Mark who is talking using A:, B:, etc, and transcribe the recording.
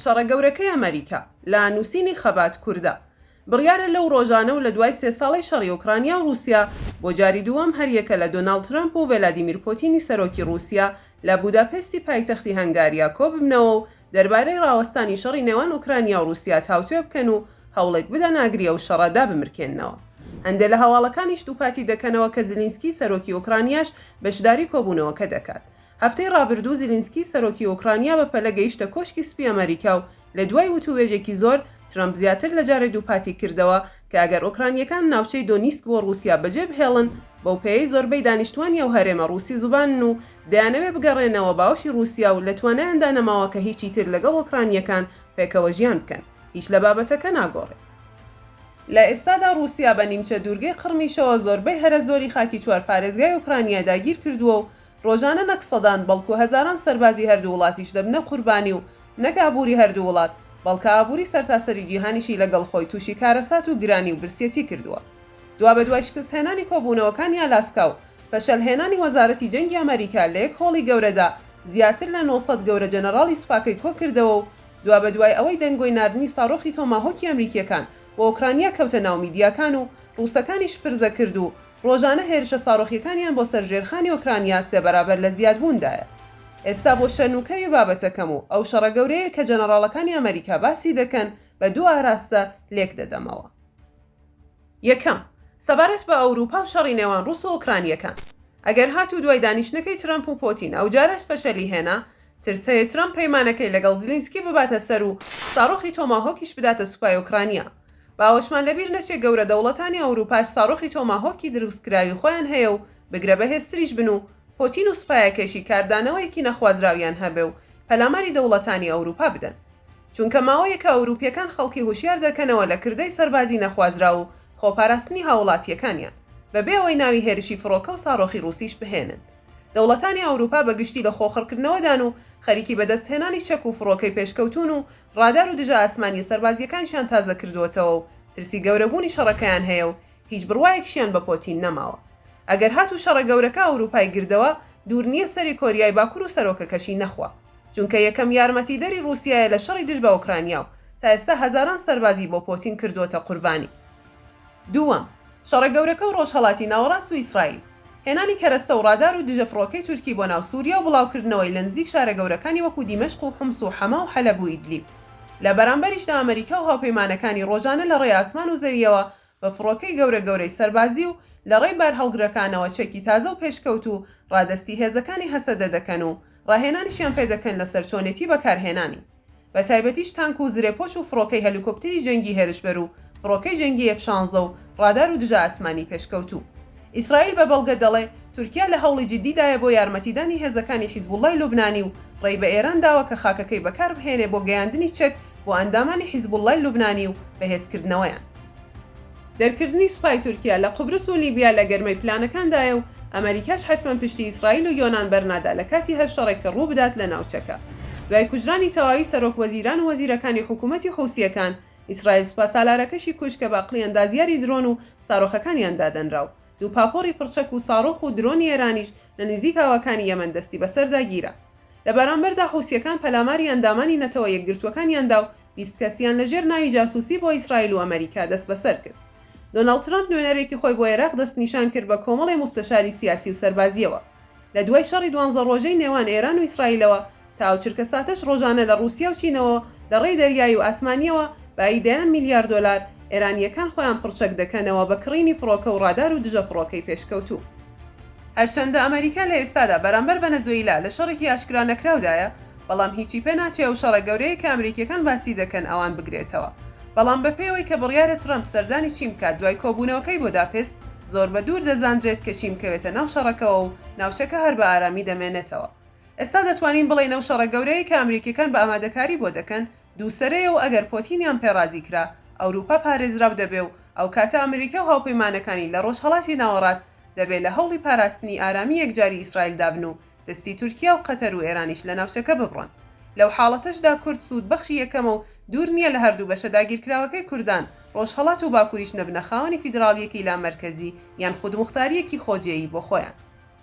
A: شەڕە گەورەکەی ئەمەریکا لە نووسینی خەبات کوردە. بڕیارە لەو ڕۆژانە و لە دوای سێ ساڵەی شەڕی ئۆکرانیا و ڕووسیا، بۆ جاری دووەم هەر یەکە لە دۆناڵد ترەمپ و ڤێلادیمیر پۆتینی سەرۆکی ڕووسیا لە بووداپێستی پایتەختی هەنگاریا کۆ ببنەوە و دەربارەی ڕاوەستانی شەڕی نێوان ئۆکرانیا و ڕووسیا تاوتوێ بکەن و هەوڵێک بدەن ئاگری ئەو شەڕە دابمرکێننەوە. هەندێ لە هەواڵەکانیش دووپاتی دەکەنەوە کە زیلینسکی سەرۆکی ئۆکرانیاش بەشداری کۆبوونەوەکە دەکات. هەفتەی ڕابردوو زیلینسکی سەرۆکی ئۆکرانیا بە پەلە گەیشتە کۆشکی سپی ئەمەریکا و لە دوای وتووێژێکی زۆر ترەمپ زیاتر لە جارێ دووپاتی کردەوە کە ئەگەر ئۆکرانییەکان ناوچەی دۆنیسک بۆ ڕووسیا بەجێ بهێڵن بەو پێیەی زۆربەی دانیشتووانی ئەو هەرێمە ڕووسی زوبانن و دەیانەوێ بگەڕێنەوە باوەشی ڕووسیا و لە توانایاندا نەماوە کە هیچی تر لەگەڵ ئۆکرانییەکان پێکەوە ژیان بکەن، هیچ لە بابەتەکە ناگۆڕێ. لە ئێستادا ڕووسیا بە نیمچە دوورگەی قڕمیشەوە زۆربەی هەرە زۆری خاکی چوار پارێزگای ئۆکرانیا داگیر کردووە و ڕۆژانە نەک سەدان بەڵکوو هەزاران سەربازی هەردوو وڵاتیش دەبنە قوربانی و نەک ئابووری هەردوو وڵات بەڵکە ئابووری سەرتاسەری جیهانیشی لەگەڵ خۆی تووشی کارەسات و گرانی و برسیەتی کردووە دوابەدوای شکستهێنانی کۆبوونەوەکانی ئالاسکا و فشەلهێنانی وەزارەتی جەنگی ئەمەریکا لە یەک هۆڵی گەورەدا زیاتر لە نۆ سەد گەورە جەنەڕاڵی سوپاکەی کۆکردەوە و دوابەدوای ئەوەی دەنگۆی ناردنی ساڕۆخی تۆماهۆکی ئەمریکییەکان بۆ ئۆکرانیا کەوتە ناو میدیاکان و ڕووسەکانیش پرزە کرد و ڕۆژانە هێرشە ساڕۆخییەکانیان بۆ سەر ژێرخانی ئۆکرانیا سێ بەرابەر لە زیادبووندایە. ئێستا بۆ شەرنووکەوی بابەتەکەم و ئەو شەڕە گەورەیەی کە جەنەڕاڵەکانی ئەمەریکا باسی دەکەن بە دوو ئاراستە لێکدەدەمەوە. یەکەم، سەبارەت بە ئەوروپا و شەڕی نێوان ڕووس و ئۆکرانییەکان. ئەگەر هاتوو دوای دانیشتنەکەی ترەمپ و پۆتین ئەوجارەش فەشەلی هێنا، ترس هەیە ترەمپ پەیمانەکەی لەگەڵ زیلینسکی بباتە سەر و ساڕۆخی تۆماهۆکیش بداتە سوپای ئۆکرانیا. با ئەوەشمان لەبیر نەچێ گەورە دەوڵەتانی ئەوروپاش ساڕۆخی تۆماهۆکی درووستکراوی خۆیان هەیە و بگرە بەهێزتریش بن و پۆتین و سوپایەکەیشی کاردانەوەیەکی نەخوازراویان هەبێ و پەلاماری دەوڵەتانی ئەوروپا بدەن. چونکە ماوەیەکە ئەوروپییەکان خەڵکی هوشیار دەکەنەوە لە کردەی سەربازی نەخوازراو و خۆپاراستنی هاووڵاتییەکانیان، بەبێ ئەوەی ناوی هێرشی فڕۆکە و ساڕۆخی ڕووسیش بهێنن. دەوڵەتانی ئەوروپا بە گشتی لە خۆخڕکردنەوەدان و خەریکی بەدەستهێنانی چەک و فڕۆکەی پێشکەوتوون و ڕادار و دژە ئاسمانییە سەربازییەکانشیان تازەکردووەتەوە و ترسی گەورەبوونی شەڕەکەیان هەیە و هیچ بڕوایەکیشیان بە پۆتین نەماوە ئەگەر هاتوو شەڕە گەورەکە ئەوروپای گردەوە دوور نییە سەری کۆریای باکور و سەرۆکەکەشی نەخوا چونکە یەکەم یارمەتیدەری ڕووسیایە لە شەڕی دژ بە ئۆکرانیا و تا ئێستا هەزاران سەربازی بۆ پۆتین کردووەتە قوربانی. دووەم، شەڕە گەورەکە و ڕۆژهەڵاتی ناوەڕاست و ئیسرائیل. هێنانی کەرەستە و ڕادار و دژە فڕۆکەی تورکی بۆ ناو سووریا و بڵاوکردنەوەی لە نزیک شارە گەورەکانی وەکوو دیمەشق و حومس و حەما و حەلەب و ئیدلیب. لە بەرامبەریشدا ئەمەریکا و هاوپەیمانەکانی ڕۆژانە لە ڕێی ئاسمان و زەوییەوە بە فڕۆکەی گەورە گەورەی سەربازی و لە ڕێی بارهەڵگرەکانەوە چەکی تازە و پێشکەوت و ڕادەستی هێزەکانی هەسەدە دەکەن و ڕاهێنانیشیان پێ دەکەن لەسەر چۆنێتی بەکارهێنانی بە تایبەتیش تانک و زرێپۆش و فڕۆکەی هەلیکۆپتری جەنگی هێرشبەر و فڕۆکەی جەنگی ئێف شانزە و ڕادار و دژە ئاسمانی پێشکەوتوو. ئیسرائیل بە بەڵگە دەڵێ تورکیا لە هەوڵی جیددی دایە بۆ یارمەتیدانی هێزەکانی حیزبوڵڵای لوبنانی و ڕێی بە ئێران داوە کە خاکەکەی بەکار بهێنێ بۆ گەیاندنی چەک بۆ ئەندامانی حیزبوڵڵای لوبنانی و بەهێزکردنەوەیان. دەرکردنی سوپای تورکیا لە قوبرس و لیبیا لە گەرمەی پلانەکاندایە و ئەمەریکاش حەتمەن پشتی ئیسرائیل و یۆنان بەرنادا لە کاتی هەر شەڕێک کە ڕووبدات لە ناوچەکە. دوای کوژرانی تەواوی سەرۆک وەزیران و وەزیرەکانی حکوومەتی حووسییەکان، ئیسرائیل سوپاسالارەکەشی کوشت کە بە عقلی ئەندازیاری درۆن و سارۆخەکانیان دادەنرا و دوو پاپۆڕی پڕچەک و ساڕۆخ و درۆنی ئێرانیش لە نزیک ئاوەکانی یەمەن دەستی بەسەردا گیرا. لە بەرامبەردا حوسییەکان پەلاماری ئەندامانی نەتەوە یەکگرتووەکانیان دا و بیست کەسیان لە ژێر ناوی جاسووسی بۆ ئیسرائیل و ئەمەریکا دەستبەسەر کرد. دۆناڵد ترەمپ نوێنەرێکی خۆی بۆ ئێراق دەستنیشان کرد بە کۆمەڵی موستەشاری سیاسی و سەربازییەوە. لە دوای شەڕی دوانزە ڕۆژەی نێوان ئێران و ئیسرائیلەوە تا ئەو چرکەساتەش ڕۆژانە لە ڕووسیا و چینەوە لە ڕێی دەریایی و ئاسمانییەوە بایی دەیان میلیارد دۆلار ئێرانییەکان خۆیان پڕچەک دەکەنەوە بە کڕینی فڕۆکە و ڕادار و دژە فڕۆکەی پێشکەوتوو. هەرچەندە ئەمەریکا لە ئێستادا بەرامبەر ڤەنەزۆیلا لە شەڕێکی ئاشکرا نەکراودایە، بەڵام هیچی پێ ناچێ ئەو شەڕە گەورەیەی کە ئەمریکییەکان باسی دەکەن ئەوان بگرێتەوە. بەڵام بە پێی ئەوەی کە بڕیارە ترەمپ سەردانی چین بکات دوای کۆبوونەوەکەی بۆداپێست، زۆر بە دوور دەزاندرێت کە چین بکەوێتە ناو شەڕەکەوە و ناوچەکە هەر بە ئارامی دەمێنێتەوە. ئێستا دەتوانین بڵێین ئەو شەڕە گەورەیەی کە ئەمریکییەکان بە ئامادەکاری بۆ دەکەن، دووسەرەیە و ئەگەر پۆتینیان پێ ڕازی کرا، ئەوروپا پارێزراو دەبێ و ئەو کاتە ئەمریکا و هاوپەیمانەکانی لە ڕۆژهەڵاتی ناوەڕاست دەبێ لە هەوڵی پاراستنی ئارامی یەکجاری ئیسرائیل دابن و دەستی تورکیا و قەتەر و ئێرانیش لە ناوچەکە ببڕن. لەو حاڵەتەشدا کورد سوودبەخشی یەکەمە و دوور نییە لە هەردوو بەشە داگیرکراوەکەی کوردان، ڕۆژهەڵات و باکووریش نەبنە خاوەنی فیدراڵییەکی لامەرکەزی یان خودموختارییەکی خۆجێیی بۆ خۆیان.